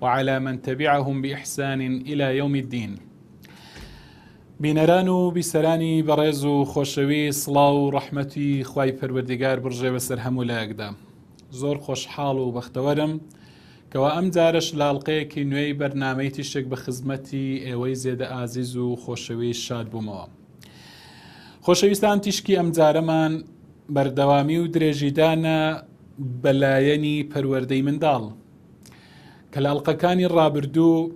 وعلی من تبعهم بإحسان إلی یوم الدین بینەران و بیسەرانی بەڕێز و خۆشەوی سڵاو و ڕەحمەتی خی پەروەردیگار بڕژێ بەسەر هەموو لایەکدا زۆر خۆشحاڵ و بەختەوەرم کەوا ئەم جارش لاڵقەیەکی نوێی بەرنمەی تیشک بە خزمەتی ئێوەی زێدە ئازیز و خۆشەوی شاد بوومەوە خۆشەویستان تیشکی ئەم جارەمان بەردەوامی و درێژیدانە بەلایەنی پەروەردەی منداڵ کەلاڵقەکانی ڕابردوو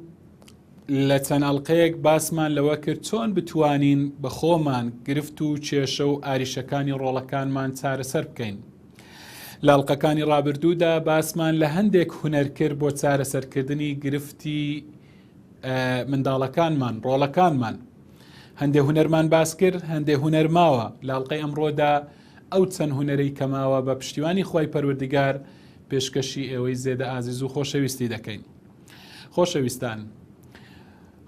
لە چەند ئەڵلقەیەک باسمان لەوە کرد چۆن بتوانین بە خۆمان گرفت و کێشە و ئاریشەکانی ڕۆڵەکانمان چارەسەر بکەین. لاڵقەکانی ڕابردوودا باسمان لە هەندێک هوەر کرد بۆ چارەسەرکردنی گرفتی منداڵەکانمان ڕۆڵەکانمان. هەندێک هوەرمان باس کرد هەندێک هوەر ماوە لاڵقەی ئەمڕۆدا ئەو چەند هوەرەی کەماوە بە پشتیوانی خی پەروەردگار پێشکەشی ئێوەی زێدە ئازیز و خۆشەویستی دەکەین. خۆشەویستان،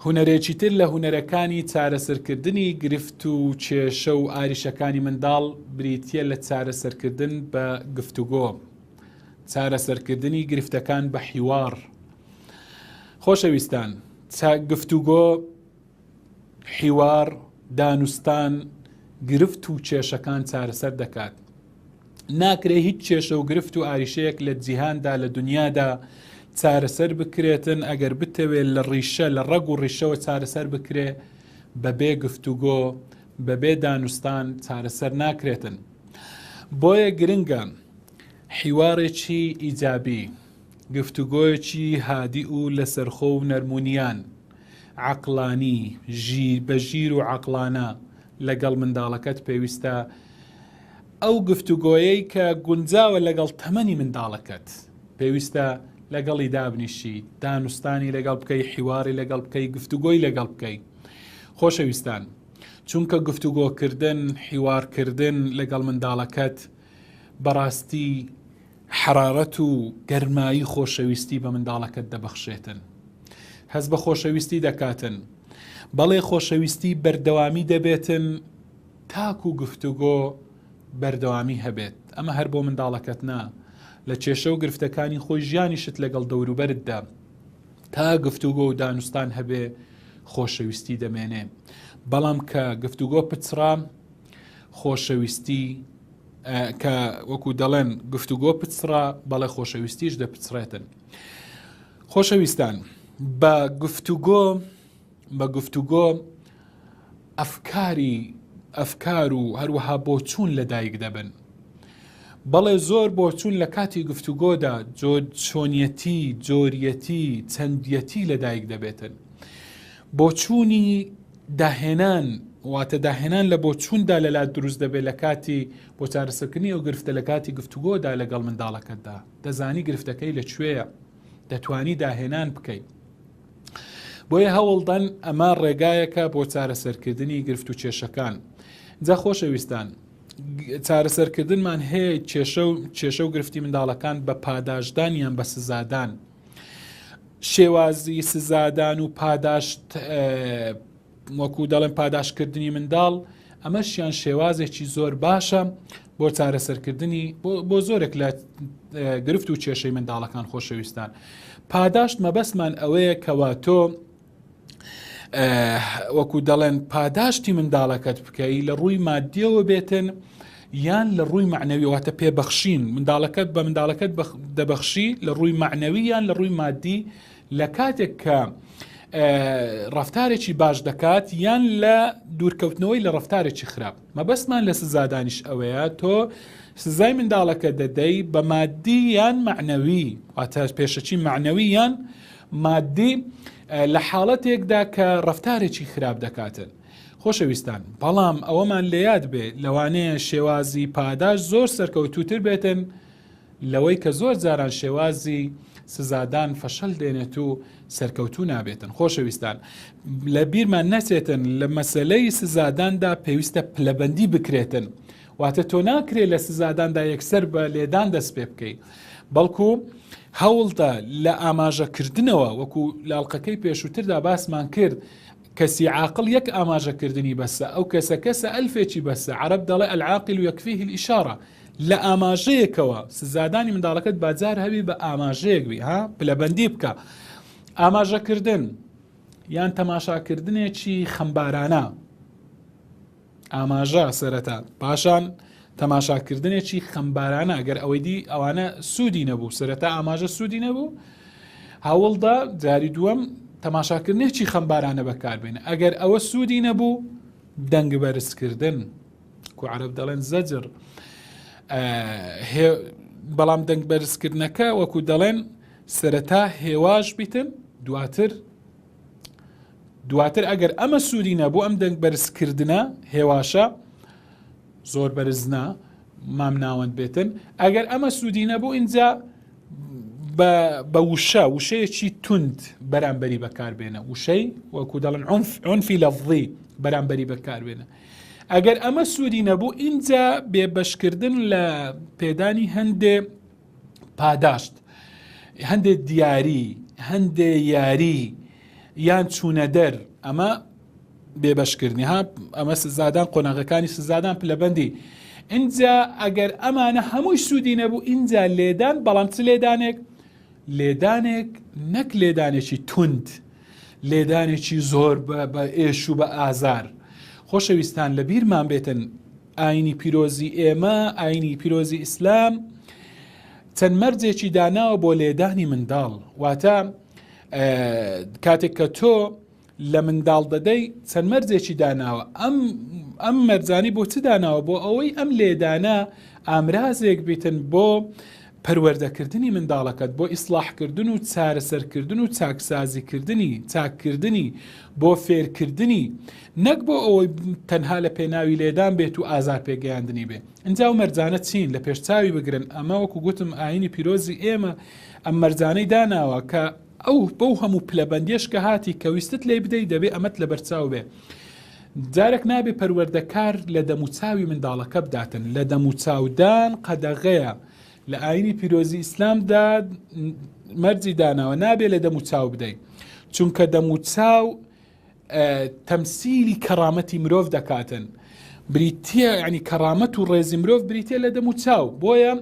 هونەرێکی تر لە هونەرەکانی چارەسەرکردنی گرفت و کێشە و ئاریشەکانی منداڵ بریتییە لە چارەسەرکردن بە گفتوگۆ، چارەسەرکردنی گرفتەکان بە حیواڕ. خۆشەویستان، گفتوگۆ، حیوار، دانوستان، گرفت و کێشەکان چارەسەر دەکات. ناکرێ هیچ کێشە و گرفت و ئاریشەیەک لە جیهاندا لە دنیادا چارەسەر بکرێتن ئەگەر بتەوێت لە ڕیشە لە ڕەگ و ڕیشەوە چارەسەر بکرێ بەبێ گفتوگۆ بەبێ دانوستان چارەسەر ناکرێتن بۆیە گرنگە حیوارێکی ئیجابی گفتوگۆیەکی هادی و لەسەرخۆ و نەرمونیان، عەقڵانی، ژیر، بە ژیر و عەقڵانە لەگەڵ منداڵەکەت پێویستە ئەو گفتوگۆیەی کە گونجاوە لەگەڵ تەمەنی منداڵەکەت پێویستە لەگەڵی دابنیشی دانوستانی لەگەڵ بکەی حیواری لەگەڵ بکەی گفتوگۆی لەگەڵ بکەی خۆشەویستان چونکە گفتوگۆکردن حیوارکردن لەگەڵ منداڵەکەت بەڕاستی حەرارەت و گەرمایی خۆشەویستی بە منداڵەکەت دەبەخشێتن. هەست بە خۆشەویستی دەکاتن. بەڵێ خۆشەویستی بەردەوامی دەبێتن تاکو گفتوگۆ بەردەوامی هەبێت. ئەمە هەر بۆ منداڵەکەت نا. لە کێشە و گرفتەکانی خۆی ژیانیشت لەگەڵ دەوروبەرتدا تا گفتوگۆ و دانوستان هەبێ خۆشەویستی دەمێنێ. بەڵام کە گفتوگۆ پچڕا خۆشەویستی کە وەکو دەڵێن گفتوگۆ پچڕا بەڵێ خۆشەویستیش دەپچڕێتن خۆشەویستان بە گفتوگۆ بە گفتوگۆ ئەفکاری ئەفکار و هەروەها بۆچوون لە دایک دەبن بەڵێ زۆر بۆچوون لە کاتی گفتوگۆدا جۆر چۆنیەتی جۆریەتی چەندیەتی لە دایک دەبێتن بۆچوونی داهێنان، واتە داهێنان لە بۆچووندا لە لات دروست دەبێت لە کاتی بۆ چارەسەرکردنی ئەو گرفتە لە کاتی گفتوگۆدا لەگەڵ منداڵەکەتدا، دەزانی گرفتەکەی لە کوێیە، دەتوانی داهێنان بکەیت. بۆیە هەوڵدەن ئەمە ڕێگایەکە بۆ چارەسەرکردنی گرفت و کێشەکان. جا خۆشەویستان، چارەسەرکردنمان هەیە کێشە و کێشە و گرفتی منداڵەکان بە پاداشدان یان بە سزادان. شێوازی سزادان و پاداشت وەکو دەڵێن پاداشتکردنی منداڵ ئەمەشیان شێوازێکی زۆر باشە بۆ چارەسەرکردنی بۆ زۆرێک لە گرفت و کێشەی منداڵەکان خۆشەویستان پاداشت مەبەستمان ئەوەیە کەوا تۆ وەکو دەڵێن پاداشتی منداڵەکەت بکەی لە ڕووی مادیەوە بێتن یان لە ڕووی معنەویواتە پێبەخشین منداڵەکەت بە منداڵەکەت دەبەخشی لە ڕووی معنەوی یان لە ڕووی مادی لە کاتێک کە ڕفتارێکی باش دەکات یان لە دوورکەوتنەوەی لە ڕفتارێکی خراپ مەبەستمان لە سزادانیش ئەوەیە تۆ سزای منداڵەکە دەدەی بە مادی یان معنەوی واتە پێشەچی معنەوی یان مادی لە حاڵەتێکدا کە ڕفتارێکی خراپ دەکاتن. خۆشەویستان بەڵام ئەوەمان لەیاد بێ لەوانەیە شێوازی پاداش زۆر سەرکەوتوتر بێتن لەوەی کە زۆر جاران شێوازی سزادان فەشەل دێنێت و سەرکەوتو نابێتن خۆشەویستان لە بیرمان نەچێتن لە مەسلەی سزاداندا پێویستە پلەبندی بکرێتن واتە تۆ ناکرێ لە سزاداندا یەکسەر بە لێدان دەست پێ بکەیت بەڵکو هەوڵدا لە ئاماژەکردنەوە وەکو لاڵقەکەی پێشووتردا باسمان کرد کەسی عاقل یەک ئاماژەکردنی بەسە ئەو کەسە کەسە ئەلفێکی بەسە عرب دەڵێ ئەلعاقل و یەکفیه ئیشارە لە ئاماژەیەکەوە سزادانی منداڵەکەت بازار هەبی بە ئاماژەیەک بی ها پلەبندی بکە ئاماژەکردن یان تەماشاکردنێکی خەمبارانە ئاماژە سەرەتا پاشان تەماشاکردنێکی خەمبارانە گەر ئەوەی دی ئەوانە سوودی نەبوو سەرەتا ئاماژە سوودی نەبوو هەوڵدا جاری دووەم تەماشاکردنێکی خەمبارانە بەکاربێنە ئەگەر ئەوە سوودی نەبوو دەنگ بەرزکردن کوعرب دەڵێن زەجر بەڵام دەنگ بەرزکردنەکە وەکو دەڵێن سەرەتا هێواش بیتن دواتر دواتر ئەگەر ئەمە سوودی نەبوو ئەم دەنگ بەرزکردنە هێواشە زۆر بەرزنا مام ناوەند بێتن ئەگەر ئەمە سوودی نەبوو اینجا بە وشە وشەیەکی تونند بەرامبەری بەکاربێنە وشەی وەکو دەڵن ئۆنفی لەڤڵی بەرامبەری بەکاربێنە ئەگەر ئەمە سوودی نەبوو اینجا بێبەشکردن لە پێدانی هەندێ پاداشت هەندێک دیاری هەندێ یاری یان چوونە دەر ئەمە بێبەشکردنی ها ئەمە سزادان قۆناغەکانی سزادان پلەبندی اینجا ئەگەر ئەمانە هەمووی سوودی نەبوو اینجا لێدان بەڵام چ لێدانێک لێدانێک نەک لێدانێکی تونند لێدانێکی زۆر بە ئێش و بە ئازار خۆشەویستان لە بیرمان بێتن ئاینی پیرۆزی ئێمە، ئاینی پیرۆزی ئیسلام، چەند مەرجێکی داناوە بۆ لێدانی منداڵ، واتە کاتێک کە تۆ لە منداڵ دەدەی چەند مەرجێکی داناوە ئەم ئەم مەرجانی بۆ چ داناوە بۆ ئەوەی ئەم لێدانە ئامرازێک بیتن بۆ پەروەردەکردنی منداڵەکەت بۆ ئیسڵاحکردن و چارەسەرکردن و چاکسازیکردنی، چاککردنی، بۆ فێرکردنی، نەک بۆ ئەوەی تەنها لە پێناوی لێدان بێت و ئازار پێگەیاندنی بێ. ئنجا ئەو مەرجانە چین؟ لە پێشچاوی بگرن، ئەمە وەکو گوتم ئایینی پیرۆزی ئێمە ئەم مەرجانەی داناوە کە ئەو بەو هەموو پلەبەندیەش کە هاتی کە ویستت لێی بدەی دەبێ ئەمەت لەبەرچاو بێ. جارێک نابێ پەروەردەکار لە دەموچاوی منداڵەکە بداتن، لە دەموچاودان قەدەغەیە، لە ئاینی پیرۆزی ئیسلامدا مەرجی داناوە نابێ لە دەموچاو بدەین چونکە دەموچاو تەمسیلی کەڕامەتی مرۆڤ دەکاتن بریتە ینی کەڕامەت و ڕێزی مرۆڤ بریتە لە دەموچاو بۆیە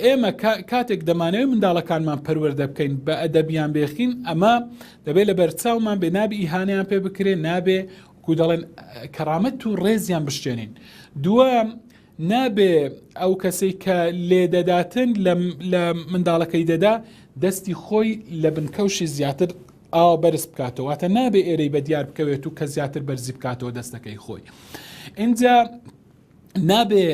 ئێمە کاتێک دەمانەوەی منداڵەکانمان پەروەەردە بکەین بە ئەدەبیان بێخین ئەمە دەبێت لە بەرچاومان بێ نابی ئیهانیان پێ بکرێن نابێ کو دەڵێن کەڕامەت و ڕێزیان بشتێنین دوم نابێ ئەو کەسی کە لێدەداتن لە منداڵەکەی دەدا دەستی خۆی لە بنکەوشی زیاتر ئاوا بەرز بکاتەوەتە نابێ ئێرەی بە دیار بکەوێت و کە زیاتر بەرزی بکاتەوە دەستەکەی خۆی. اینجا نابێ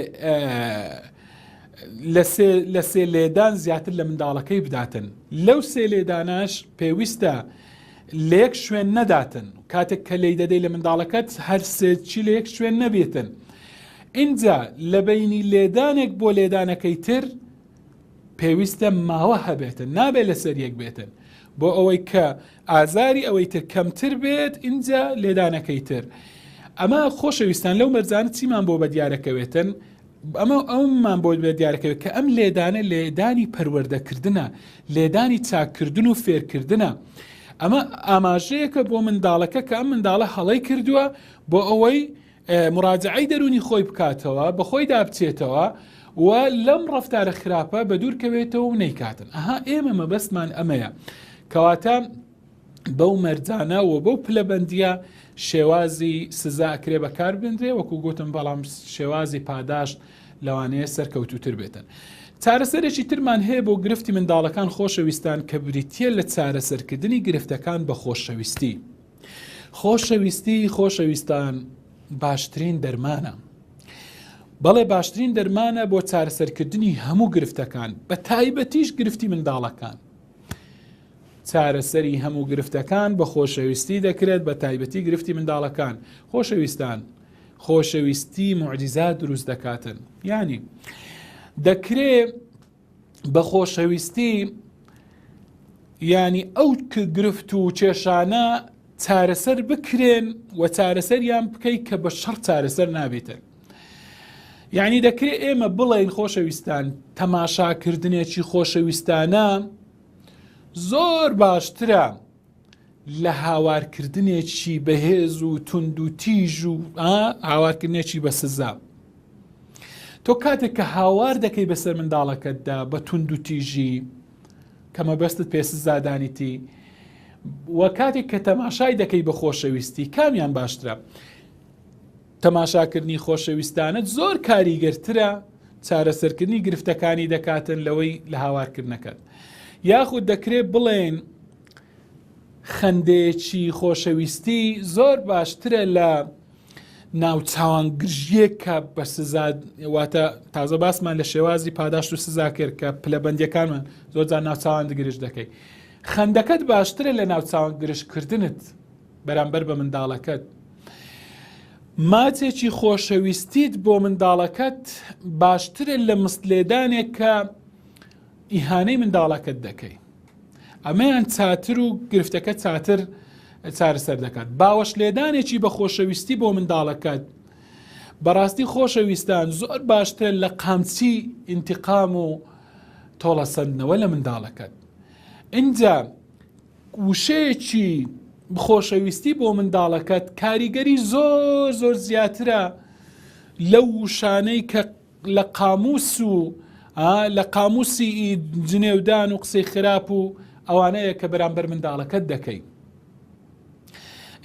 لە سێ لێدان زیاتر لە منداڵەکەی بداتن لەو سێ لێداناش پێویستە لە یەک شوێن نەداتن کاتێک کە لی دەدەی لە منداڵەکەت هەر سێچی لە یەک شوێن نەبێتن اینجا لە بینی لێدانێک بۆ لێدانەکەی تر پێویستە ماوە هەبێتن نابێت لەسەر یەک بێتن بۆ ئەوەی کە ئازاری ئەوەی تر کەمتر بێت ئینجا لێدانەکەی تر ئەمە خۆشەویستان لەو مەرزانە چیمان بۆ بە دیارەکەوێتن ئەمە ئەومان بۆ بە دیارەکەوێت کە ئەم لێدانە لێدانی پەروەردەکردە لێدانی چاککردن و فێرکردە ئەمە ئاماژەیەکە بۆ منداڵەکە کە ئەم منداڵە هەڵی کردووە بۆ ئەوەی موراجەعەی دەروونی خۆی بکاتەوە، بەخۆیدا بچێتەوە و لەم ڕەفتارە خراپە بەدوورکەوێتەوە و نەیکاتن. ئەها ئێمە مەبەستمان ئەمەیە. کەواتە بەو مەرجانە و بەو پلەبەندیە شێوازی سزا ئەکرێ بەکار بنرێ وەکو گوتم بەڵام شێوازی پاداشت لەوانەیە سەرکەوتوتر بێتن. چارەسەرێکی ترمان هەیە بۆ گرفتی منداڵەکان خۆشەویستان کە بریتە لە چارەسەرکردنی گرفتەکان بە خۆشەویستی. خۆشەویستی خۆشەویستان باشترین دەرمانە بەڵێ باشترین دەرمانە بۆ چارەسەرکردنی هەموو گرفتەکان بە تایبەتیش گرفتی منداڵەکان چارەسەری هەموو گرفتەکان بە خۆشەویستی دەکرێت بە تایبەتی گرفتی منداڵەکان خۆشەویستان خۆشەویستی معجززا دروست دەکاتن ینی دەکرێت بە خۆشەویستی ینی ئەو گرفت و کێشانە چارەسەر بکرێن و چارەسەریان بکەیت کە بە شەڕ چارەسەر نابێتن یعنی دەکرێت ئێمە بڵێن خۆشەویستان تەماشاکردنێکی خۆشەویستانە زۆر باشترە لە هاوارکردنێکی بەهێز و تونند و تیژ و هاوارکردنێکی بە سزا تۆ کاتێک کە هاوار دەکەی بەسەر منداڵەکەتدا بە تونند و تیژی کە مەبەستت پێ سزادانیتی و کاتێک کە تەماشای دەکەی بە خۆشەویستی کامیان باشترە تەماشاکردنی خۆشەویستانت زۆر کاریگەرترە چارەسەرکردنی گرفتەکانی دەکاتن لەوەی لە هاوارکردنەکەت یاخود دەکرێت بڵێن خەندەیەکی خۆشەویستی زۆر باشترە لە ناو چاوان گرژیە کە بە سزاواتە تازە باسمان لە شێوازی پاداشت و سزا کرد کە پلەبندەکانمان زۆرجان ناوچوان دگرش دەکەیت خەندەکەت باشترە لە ناوچوان گرشکردنت بەرامبەر بە منداڵەکەت ماچێکی خۆشەویستیت بۆ منداڵەکەت باشترە لە مستلێدانێک کە ئیهانەی منداڵەکەت دەکەیت ئەمەیان چاتر و گرفتەکە چاتر چارەسەر دەکات باوەش لێدانێکی بە خۆشەویستی بۆ منداڵەکەت بەڕاستی خۆشەویستان زۆر باشترە لە قامچی ئینتقام و تۆڵەسەندنەوە لە منداڵەکەت اینجا وشەیەکی خۆشەویستی بۆ منداڵەکەت کاریگەری زۆر زۆر زیاترە لەو وشانەی کە لە قاموس و لە قاموسی جنێودان و قسەی خراپ و ئەوانەیە کە بەرامبەر منداڵەکەت دەکەی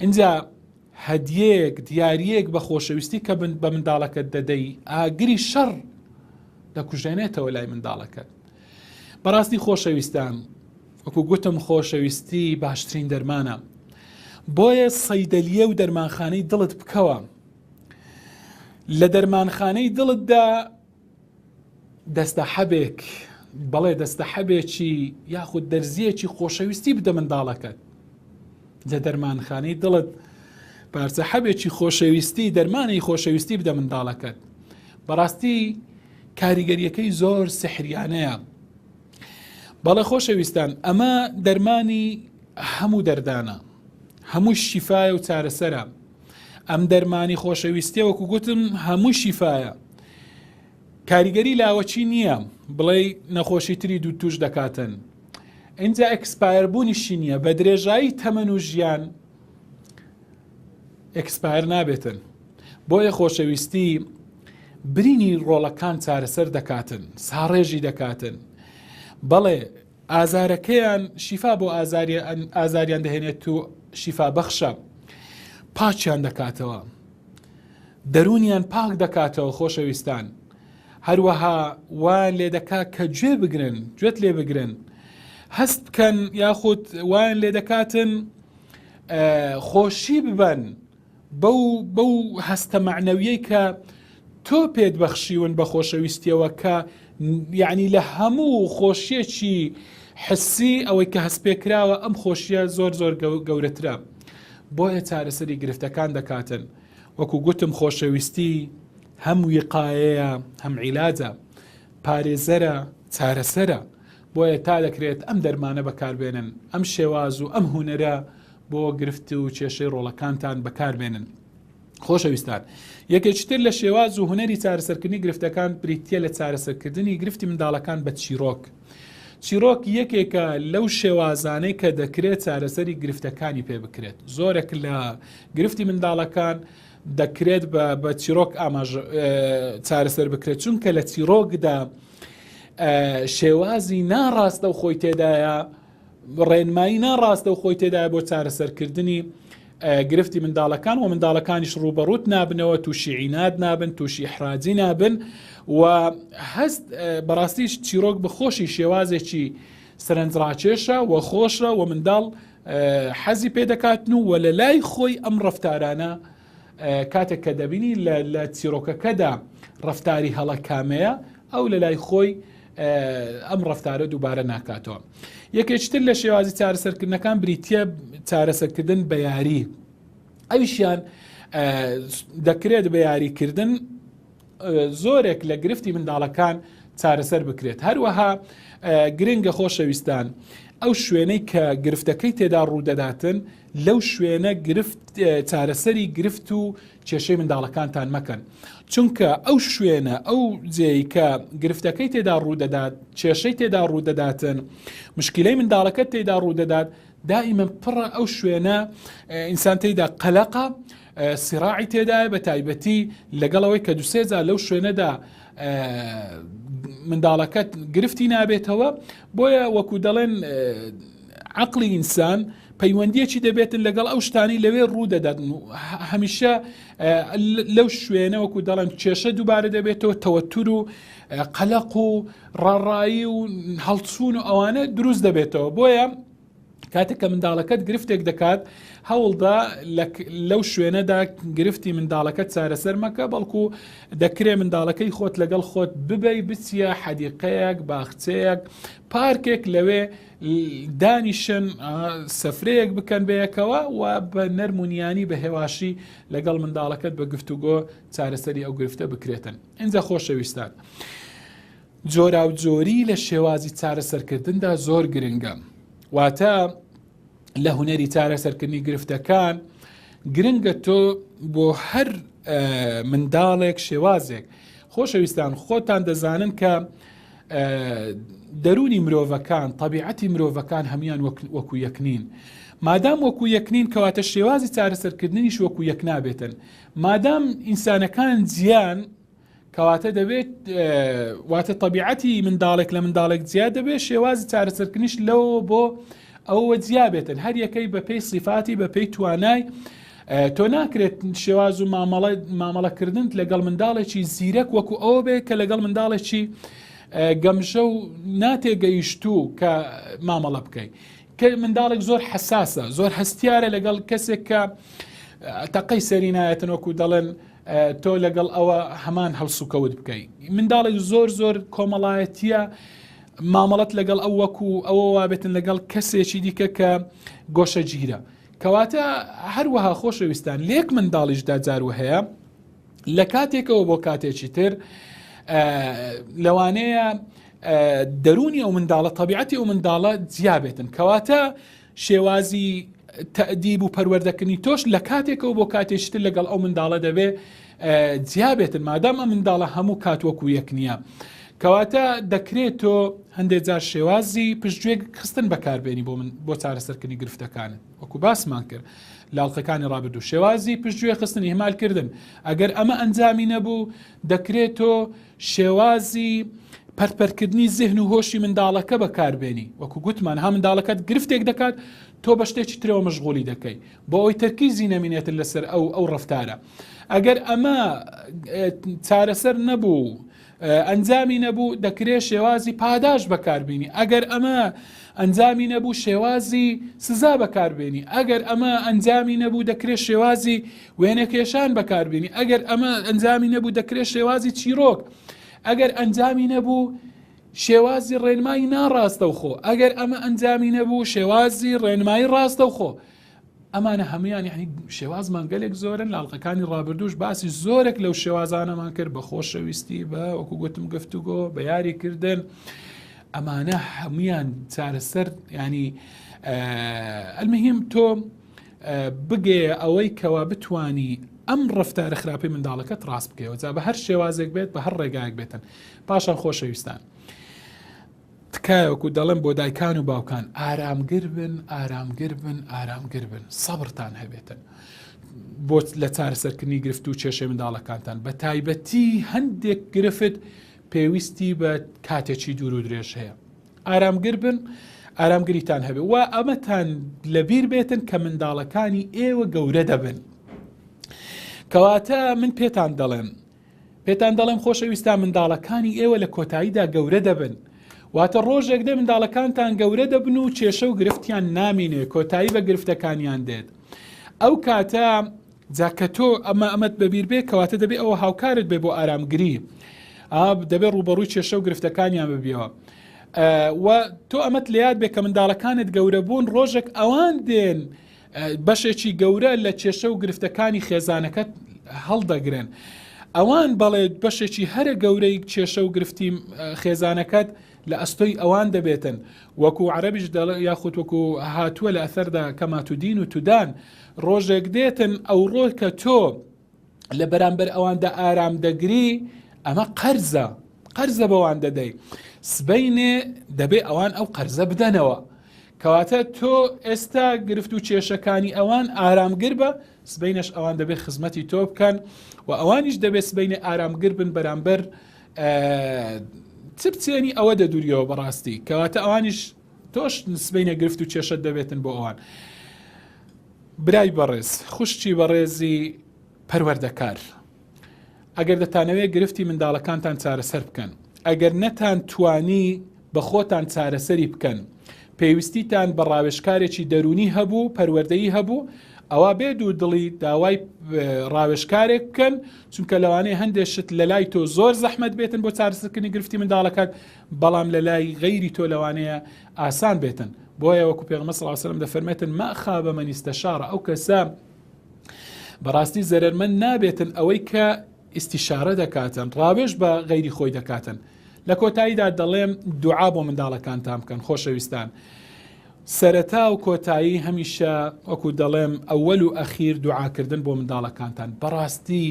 اینجا هەدیەک دیارەک بە خۆشەویستی کە بە منداڵەکەت دەدەی ئاگری شەڕ دەکوژێنێتەوە لای منداڵەکەت بەڕاستی خۆشەویستان وەکو گوتم خۆشەویستی باشترین دەرمانە بۆیە سەیدەلیە و دەرمانخانەی دڵت بکەوە لە دەرمانخانەی دڵتدا دەستەحەبێک بەڵێ دەستەحەبێکی یاخود دەرزیەکی خۆشەویستی بدە منداڵەکەت لە دەرمانخانەی دڵت پارچە حەبێکی خۆشەویستی دەرمانی خۆشەویستی بدە منداڵەکەت بەڕاستی کاریگەریەکەی زۆر سحریانەیە بەڵێ خۆشەویستان ئەمە دەرمانی هەموو دەردانە هەموو شیفاە و چارەسەرە ئەم دەرمانی خۆشەویستیە وەکو گوتم هەموو شیفاە کاریگەری لاوەچی نییە بڵێ نەخۆشی تری دوو توش دەکاتن ئینجا ئەکسپایر بوونیشی نییە بە درێژایی تەمەن و ژیان ئەکسپایر نابێتن بۆیە خۆشەویستی برینی ڕۆڵەکان چارەسەر دەکاتن ساڕێژی دەکاتن بەڵێ ئازارەکەیان شیفا بۆ ئازاریان دەهێنێت و شیفا بەخشە پاچیان دەکاتەوە دەرونیان پاک دەکاتەوە خۆشەویستان هەروەها وایان لێ دەکا کە گوێ بگرن گوێت لێ بگرن هەست بکەن یاخود وایان لێ دەکاتن خۆشی ببن بەو بەو هەستە مەعنەویەی کە تۆ پێت بەخشیون بە خۆشەویستیەوە کە یعنی لە هەموو خۆشیەکی حسی ئەوەی کە هەست پێکراوە ئەم خۆشیە زۆر زۆر گەورەترە بۆیە چارەسەری گرفتەکان دەکاتن وەکو گوتم خۆشەویستی هەم ویقاەیە هەم عیلاجە پارێزەرە چارەسەرە بۆیە تا دەکرێت ئەم دەرمانە بەکاربێنن، ئەم شێواز و ئەم هونەرە بۆ گرفت و کێشەی ڕۆڵەکانتان بەکاربێنن. خۆشەویستان، یەکێکی تر لە شێواز و هونەری چارەسەرکردنی گرفتەکان بریتییە لە چارەسەرکردنی گرفتی منداڵەکان بە چیرۆک. چیرۆک یەکێکە لەو شێوازانەی کە دەکرێت چارەسەری گرفتەکانی پێ بکرێت. زۆرێک لە گرفتی منداڵەکان دەکرێت بە چیرۆک ئاماژە چارەسەر بکرێت چونکە لە چیرۆکدا شێوازی ناڕاستەوخۆی تێدایە ڕێنمایی ناڕاستەوخۆی تێدایە بۆ چارەسەرکردنی گرفتی منداڵەکان و منداڵەکانیش ڕوبەڕوت نابنەوە تووشی عینات نابن تووشی حراجی نابن و هەست بەڕاستیش چیرۆک بخۆشی شێوازێکی سەرنجڕاکێشە و خۆشە و منداڵ حەزی پێدەکاتن و وە لە لای خۆی ئەم ڕفتارانە کاتێک کە دەبینی لە چیرۆکەکەدا ڕفتاری هەڵە کامەیە ئەو لە لای خۆی ئەم ڕفتارە دووبارە ناکاتەوە یەکێکتر لە شێوازی چارەسەرکردنەکان بریتە چارەسەرکردن بە یاری ئەویشیان دەکرێت بە یاریکردن زۆرێک لە گرفتی منداڵەکان چارەسەر بکرێت هەروەها گرنگە خۆشەویستان ئەو شوێنەی کە گرفتەکەی تێدا ڕوودەداتن لەو شوێنە گرفت چارەسەری گرفت و کێشەی منداڵەکانتان مەکەن چونکە ئەو شوێنە ئەو جێی کە گرفتەکەی تێدا ڕوودەدات کێشەی تێدا ڕوودەداتن مشکلەی منداڵەکە تێدا ڕوودەدات دائیمە پڕە ئەو شوێنە ئینسان تێدا قەلەقە سراعی تێدایە بە تایبەتی لەگەڵەوەی کە دوسێجا لەو شوێنەدا منداڵەکەت گرفتی نابێتەوە بۆیە وەکو دەڵێن عەقڵی ئینسان پەیوەندیەکی دەبێتن لەگەڵ ئەو شتانی لەوێ ڕوودەداتن و هەمیشە لەو شوێنە وەکو دەڵێن کێشە دووبارە دەبێتەوە تەوەتور و قەلق و ڕاڕایی و هەڵچوون و ئەوانە دروست دەبێتەوە بۆیە کاتێک کە منداڵەکەت گرفتێک دەکات هەوڵدا لەو شوێنەدا گرفتی منداڵەکە چارەسەر مەکە بەڵکو دەکرێ منداڵەکەی خۆت لەگەڵ خۆت ببەی بچیە حەدیقەیەک باخچەیەک پارکێک لەوێ دانیشن سفرەیەک بکەن بەیەکەوە و بە نەرمونیانی بە هێواشی لەگەڵ منداڵەکەت بە گفتوگۆ چارەسەری ئەو گرفتە بکرێتن ئینجا خۆشەویستان. جۆرا و جۆری لە شێوازی چارەسەرکردندا زۆر گرنگە واتە لە هوەری چارەسەرکردنی گرفتەکان گرنگە تۆ بۆ هەر منداڵێک شێوازێک خۆشەویستان خۆتان دەزانن کە دەروونی مرۆڤەکان، تەبیعەتی مرۆڤەکان هەموان وەکو یەک نین. مادام وەکو یەک نین کەواتە شێوازی چارەسەرکردنیش وەکو یەک نابێتن. مادام ئینسانەکان جیان کەواتە دەبێت واتە تەبیعەتی منداڵێک لە منداڵێک جیا دەبێت شێوازی چارەسەرکردنیش لەوە بۆ ئەوەوە جیا بێتن هەر یەکەی بەپێی سیفاتی بەپێی توانای تۆ ناکرێت شێواز و مامەڵەکردنت لەگەڵ منداڵێکی زیرەک وەکو ئەوە بێت کە لەگەڵ منداڵێکی گەمژە و ناتێگەیشتوو کە مامەڵە بکەیت کە منداڵێک زۆر حساسە زۆر هەستیارە لەگەڵ کەسێک کە تەقەی سەرینایەتن وەکو دەڵێن تۆ لەگەڵ ئەوە هەمان هەڵسوکەوت بکەیت منداڵێک زۆر زۆر کۆمەڵایەتە مامەڵەت لەگەڵ ئەو وەکو ئەوە وابێتن لەگەڵ کەسێکی دیکە کە گۆشەگیرە کەواتە هەروەها خۆشەویستان لێک منداڵیشدا جارو هەیە لە کاتێکەوە بۆ کاتێکی تر لەوانەیە دەرونی ئەو منداڵە طبیعەتی ئەو منداڵە جیابێتن کەواتە شێوازی تەئدیب و پەروەردەکردنی تۆش لە کاتێکەوە بۆ کاتێشتر لەگەڵ ئەو منداڵە دەبێ جیابێتن مادام ئە منداڵە هەموو کات وەکو یەک نییە. کەواتە دەکرێت تۆ هەندێک جار شێوازی پشتگوێک خستن بەکاربێنی بۆ من بۆ چارەسەرکردنی گرفتەکانت وەکو باسمان کرد لاڵقەکانی ڕابردوو شێوازی پشتگوێ خستنی هێمالکردن ئەگەر ئەمە ئەنجامی نەبوو دەکرێت تۆ شێوازی پەرت پەرتکردنی زهن و هۆشی منداڵەکە بەکاربێنی وەکو گوتمان ها منداڵەکەت گرفتێک دەکات تۆ بە شتێکی ترەوە مەشغولی دەکەی بۆ ئەوی تەرکیزی نەمینێتن لەسەر ئەو ئەو ڕفتارە ئەگەر ئەمە چارەسەر نەبوو ئەنجامی نەبوو دەکرێ شێوازی پاداش بەکاربیێنی ئەگەر ئەمە ئەنجامی نەبوو شێوازی سزا بەکاربیێنی ئەگەر ئەمە ئەنجامی نەبوو دەکرێت شێوازی وێنەکێشان بەکاربێنی ئەگەر ئەمە ئەنجامی نەبوو دەکرێت شێوازی چیرۆک ئەگەر ئەنجامی نەبوو شێوازی ڕێنمایی ناڕاستەوخۆ ئەگەر ئەمە ئەنجامی نەبوو شێوازی ڕێنمایی ڕاستەوخۆ ئەمانە هەمویان یعنی شێوازمان گەلێک زۆرن لاڵقەکانی ڕابردوش باسی زۆرێک لەو شێوازانەمان کرد بە خۆشەویستی بە وەکو گوتم گفتوگۆ بە یاری کردن ئەمانە هەمویان چارەسەر ینی ئەلمهم تۆ بگەیە ئەوەی کەوا بتانی ئەم ڕفتارە خراپی منداڵەکەت ڕاست بکەوە جا بە هەر شێوازێک بێت بە هەر ڕێگایەک بێتن پاشان خۆشەویستان. تکایەکو دەڵێن بۆ دایکان و باوکان ئارامگر بن ئارامگر بن ئارامگر بن سەبرتان هەبێتن بۆ لە چارەسەرکردنی گرفت و کێشێ منداڵەکانتان بە تایبەتی هەندێک گرفت پێویستی بە کاتێکی دوور و درێژ هەیە ئارامگر بن، ئارامگریتان هەبێ و ئەمەتان لەبیر بێتن کە منداڵەکانی ئێوە گەورە دەبن. کەواتە من پێتان دەڵێم پێتان دەڵێم خۆشەویستا منداڵەکانی ئێوە لە کۆتاییدا گەورە دەبن واتە ڕۆژێک دێ منداڵەکانتان گەورە دەبن و کێشە و گرفتیان نامینێ کۆتایی بە گرفتەکانیان دێت ئەو کاتە جا کە تۆ ئەمە ئەمەت بەبیر بێ کەواتە دەبێ ئەوە هاوکارت بێ بۆ ئارامگری ئاب دەبێ ڕووبەڕووی کێشە و گرفتەکانیان ببیەوە و تۆ ئەمەت لە یاد بێ کە منداڵەکانت گەورە بوون ڕۆژێک ئەوان دێن بەشێکی گەورە لە کێشە و گرفتەکانی خێزانەکەت هەڵدەگرن ئەوان بەڵێت بەشێکی هەرە گەورەی کێشە و گرفتی خێزانەکەت لە ئەستۆی ئەوان دەبێتن وەکو عربیش دەڵ یاخود وەکو هاتووە لە ئەثەردا کەماتودین و تودان ڕۆژێک دێتن ئەوڕۆ کە تۆ لە بەرامبەر ئەواندا ئارام دەگری ئەمە قەرزە قەرزە بەوان دەدەی سبینێ دەبێ ئەوان ئەو قەرزە بدەنەوە کەواتە تۆ ئێستا گرفت و کێشەکانی ئەوان ئارامگر بە سبینەش ئەوان دەبێت خزمەتی تۆ بکەن و ئەوانیش دەبێت سبینێ ئارامگر بن بەرامبەر چ بچێنی ئەوە دەدوریەوە بەڕاستی کەواتە ئەوانیش تۆش سبەینێ گرفت و کێشەت دەبێتن بۆ ئەوان برای بەڕێز خوشتی بەڕێزی پەروەردەکار ئەگەر دەتانەوێت گرفتی منداڵەکانتان چارەسەر بکەن ئەگەر نەتان توانی بە خۆتان چارەسەری بکەن پێویستیتان بە ڕاوێشکارێکی دەرونی هەبوو پەروەردەیی هەبوو ئەوە بێ دوو دڵی داوای ڕاوێشکارێک بکەن چونکە لەوانەیە هەندێک شت لە لای تۆ زۆر زەحمت بێتن بۆ چارسکردنی گرفتی منداڵەکەت بەڵام لە لای غەیری تۆ لەوانەیە ئاسان بێتن بۆیە وەکو پێغمە سڵاو سلم دەفەرمێتن مەخا بە مەنیستە شارە ئەو کەسە بەڕاستی زەرمەند نابێتن ئەوەی کە ئیسیشارە دەکاتن ڕاوێش بە غەیری خۆی دەکاتن لە کۆتاییدا دەڵێم دوعا بۆ منداڵەکانتان بکەن خۆشەویستان. سەرەتا و کۆتایی هەمیشە وەکو دەڵێم ئەوەل و ئەخیر دوعاکردن بۆ منداڵەکانتان بەڕاستی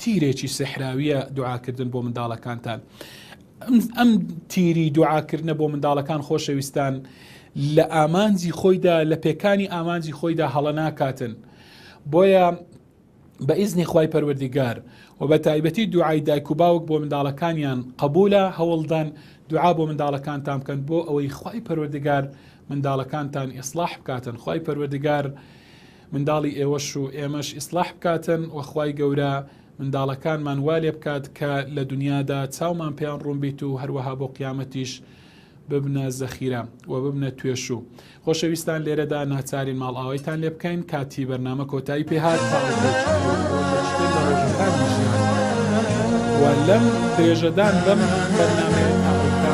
تیرێکی سحراویە دوعاکردن بۆ منداڵەکانتان ئەم تیری دوعاکردنە بۆ منداڵەکان خۆشەویستان لە ئامانجی خۆیدا لە پێکانی ئامانجی خۆیدا هەڵە ناکاتن بۆیە بە ئیزنی خی پەروەردیگار و بە تایبەتی دوعای دایک و باوک بۆ منداڵەکانیان قبولە هەوڵدان دوعا بۆ منداڵەکانتان بکەن بۆ ئەوەی خی پەروەردگار منداڵەکانتان ئیسلاح بکاتن خی پەروەردگار منداڵی ئێوەش و ئێمەش ئیسڵاح بکاتن وە خوای گەورە منداڵەکانمان وا لێ بکات کە لە دونیادا چاومان پێیان ڕوون بیت و هەروەها بۆ قیامەتیش ببنە زەخیرە وە ببنە توێشوو خۆشەویستان لێرەدا ناچارین ماڵئاوایتان لێ بکەین کاتی بەرنامە کۆتایی پێ هات تا لەم درێژەدان بەم بەرنامەیە تا